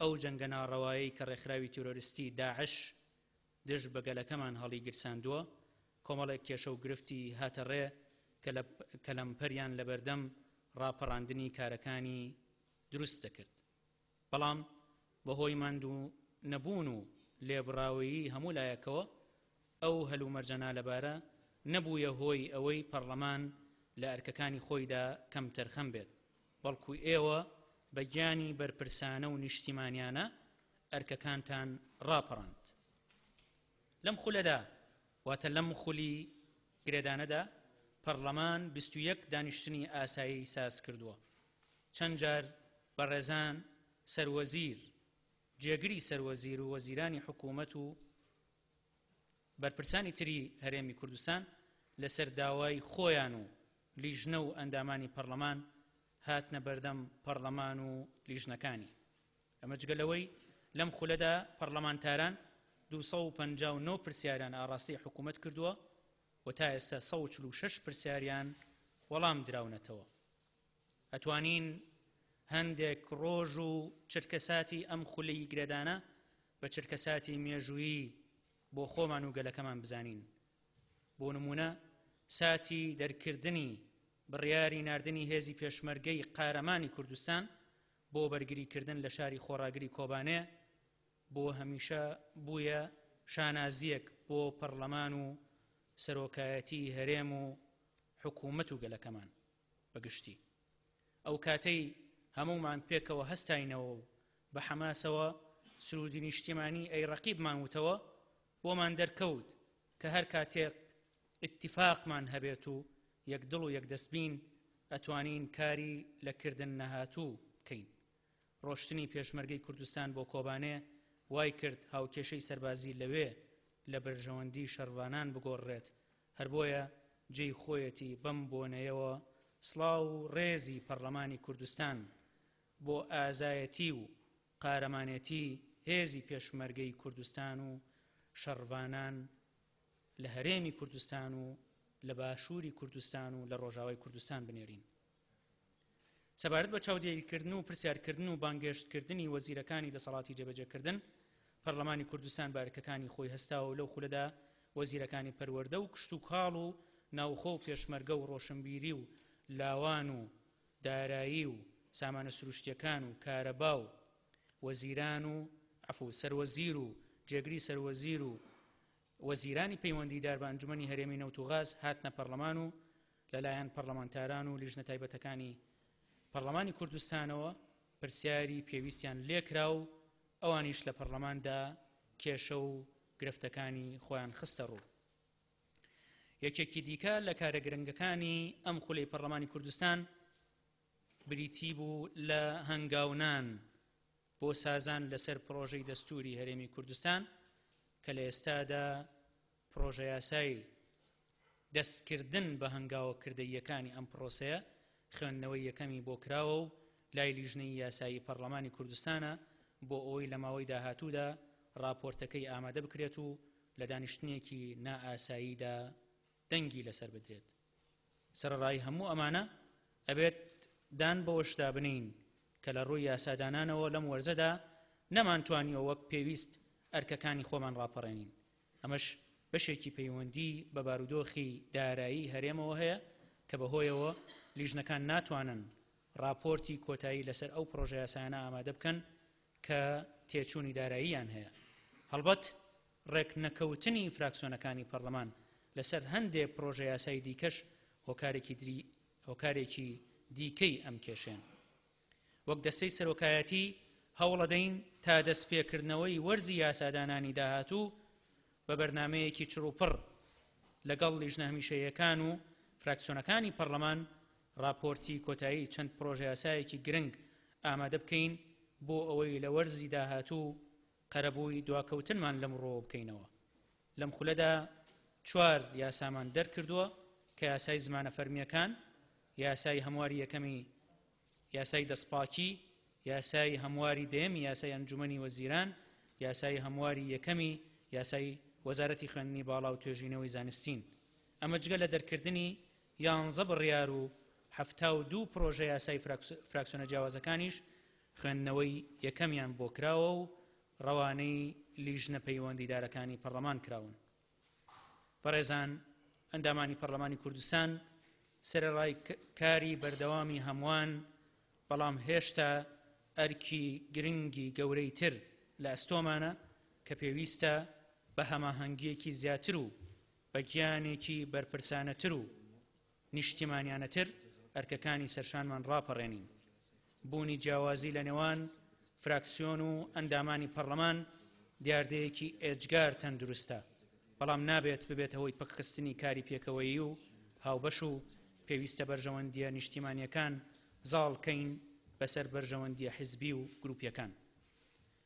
ئەو جەنگە ناڕەوایەی کە ڕێکخراوی تیرۆرستی داعش دژ بە گەلەکەمان هەڵیگیرساندووە، کۆمەڵێک کێشە و گرفتی هاتە ڕێ کە لە کە لەمپەریان لە بەردەم ڕاپەڕاندنی کارەکانی دروست دەکرد، بەڵام بە هۆی ماندوو نەبوون و لێبڕاویی هەموو لایەکەوە، ئەو هەلومەرجە نالەبارە نەبوویە هۆی ئەوەی پەڕڵەمان لە ئەرکەکانی خۆیدا کەمتەرخەم بێت. بەڵکو ئێوە بە گیانی بەرپرسانە و نیشتیمانیانە ئەرکەکانتان ڕاپەڕاند. لەم خولەدا، واتە لەم خولی گرێدانەدا، پەڕلەمان بیست و یەک دانیشتنی ئاسایی ساز کردووە. چەند جار بەڕێزان سەر وەزیر، جێگری سەر وەزیر و وەزیرانی حکوومەت و بەرپرسانی تری هەرێمی کوردستان لەسەر داوای خۆیان و، لیژنە و ئەندامانی پەڕلەمان هاتنە بەردەم پەڕلەمان و لیژنەکانی، ئەمە جگە لەوەی لەم خولەدا پەڕلەمانتاران دوو سەد و پەنجا و نۆ پرسیاریان ئاڕاستەی حکوومەت کردووە و تا ئێستا سەد و چل و شەش پرسیاریان وەڵام دراونەتەوە. ئەتوانین هەندێک ڕۆژ و چرکەساتی ئەم خولەی گرێدانە بە چرکەساتی مێژوویی بۆ خۆمان و گەلەکەمان بزانین، بۆ نموونە ساتی دەرکردنی بڕیاری ناردنی هێزی پێشمەرگەی قارەمانی کوردستان بۆ بەرگریکردن لە شاری خۆڕاگری کۆبانێ بۆ هەمیشە بوویە شانازییەک بۆ پەڕلەمان و سەرۆکایەتی هەرێم و حکوومەت و گەلەکەمان بەگشتی ئەو کاتەی هەمومان پێکەوە هەستاینەوە و بە حەماسەوە سرودی نیشتیمانی ئەی ڕەقیبمان وتەوە بۆمان دەرکەوت کە هەر کاتێک ئیتیفاقمان هەبێت و یەک دڵ و یەک دەست بین ئەتوانین کاری لە کردن نەهاتوو بکەین. ڕۆشتنی پێشمەرگەی کوردستان بۆ کۆبانێ وای کرد هاوکێشەی سەربازی لەوێ لە بەرژەوەندی شەڕڤانان بگۆڕرێت، هەر بۆیە جێی خۆیەتی بەم بۆنەیەوە سڵاو و ڕێزی پەڕڵەمانی کوردستان بۆ ئازایەتی و قارەمانێتی هێزی پێشمەرگەی کوردستان و شەڕڤانان لە هەرێمی کوردستان و لە باشووری کوردستان و لە ڕۆژاوای کوردستان بنێرین. سەبارەت بە چاودێریکردن و پرسیارکردن و بانگێشتکردنی وەزیرەکانی دەسەڵاتی جێبەجێکردن، پەرلەمانی کوردستان بارکەکانی خۆی هەستاوە و لەو خولەدا وەزیرەکانی پەروەردە و کشتوکاڵ و ناوخۆ و پێشمەرگە و ڕۆشنبیری و لاوان و دارایی و سامانە سروشتیەکان و کارەبا و وەزیران و عەفو سەروەزیر و جێگری سەروەزیر و وەزیرانی پەیوەندیدار بە ئەنجومەنی هەرێمی نەوت و غاز هاتنە پەڕلەمان و لەلایەن پەڕلەمانتاران و لیژنە تایبەتەکانی پەڕلەمانی کوردستانەوە پرسیاری پێویستیان لێکرا و ئەوانیش لە پەڕلەماندا کێشە و گرفتەکانی خۆیان خستە ڕوو. یەکێکی دیکە لە کارە گرنگەکانی ئەم خولەی پەرلەمانی کوردستان بریتی بوو لە هەنگاونان بۆ سازان لەسەر پرۆژەی دەستوری هەرێمی کوردستان کە لە ئێستادا پرۆژە یاسای دەستکردن بە هەنگاوە کردەیەکانی ئەم پرۆسەیە خوێندنەوەی یەکەمی بۆ کراوە و لای لیژنەی یاسایی پەرلەمانی کوردستانە بۆ ئەوەی لە ماوەی داهاتوودا راپۆرتەکەی ئامادە بکرێت و لە دانیشتنێکی نائاساییدا دەنگی لەسەر بدرێت. سەرەڕای هەموو ئەمانە، ئەبێت دان بەوەشدا بنێین کە لە ڕووی یاسادانانەوە لەم وەرزەدا نەمانتوانیوە وەک پێویست ئەرکەکانی خۆمان ڕاپەڕێنین، ئەمەش بەشێکی پەیوەندی بە بارودۆخی دارایی هەرێمەوە هەیە کە بەهۆیەوە لیژنەکان ناتوانن ڕاپۆرتی کۆتایی لەسەر ئەو پڕۆژەیاسایانە ئامادە بکەن کە تێچوونی داراییان هەیە. هەڵبەت ڕێک نەکەوتنی فراکسیۆنەکانی پەڕلەمان لەسەر هەندێ پڕۆژە یاسای دیکەش هۆکارێکی دری هۆکارێکی دیکەی ئەم کێشەیەن. وەک دەستەی سەرۆکایەتی هەوڵەدەین تا دەستپێکردنەوەی وەرزی یاسادانانی داهاتوو بە بەرنامەیەکی چڕوپڕ لەگەڵ لیژنە هەمیشەییەکان و فراکسیۆنەکانی پەڕلەمان ڕاپۆرتی کۆتایی چەند پڕۆژەیاسایەکی گرنگ ئامادە بکەین بۆ ئەوەی لە وەرزی داهاتوو قەرەبووی دواکەوتنمان لەم ڕووەوە بکەینەوە. لەم خولەدا چوار یاسامان دەرکردووە کە یاسای زمانە فەرمییەکان، یاسای هەمواری یەکەمی یاسای دەستپاکی، یاسای هەمواری دەیەمی یاسای ئەنجومەنی وەزیران، یاسای هەمواری یەکەمی یاسای وەزارەتی خوێندنی باڵا و توێژینەوەی زانستین. ئەمە جگە لە دەرکردنی یانزە بڕیار و حەفتا و دوو پڕۆژە یاسای فراکسیۆنە جیاوازەکانیش خوێندنەوەی یەکەمیان بۆ کراوە و ڕەوانەی لیژنە پەیوەندیدارەکانی پەڕڵەمان کراون. بەڕێزان ئەندامانی پەرلەمانی کوردستان، سەرەڕای کاری بەردەوامی هەمووان، بەڵام هێشتا ئەرکی گرنگی گەورەی تر لە ئەستۆمانە کە پێویستە بە هەماهەنگییەکی زیاتر و بە گیانێکی بەرپرسانەتر و نیشتیمانیانەتر ئەرکەکانی سەرشانمان ڕاپەڕێنین. بوونی جیاوازی لە نێوان فراکسیۆن و ئەندامانی پەڕلەمان دیاردەیەکی ئێجگار تەندروستە، بەڵام نابێت ببێتە هۆی پەکخستنی کاری پێکەوەیی و هاوبەش و پێویستە بەرژەوەندییە نیشتیمانییەکان زاڵ کەین بەسەر بەرژەوەندییە حزبی و گروپییەکان.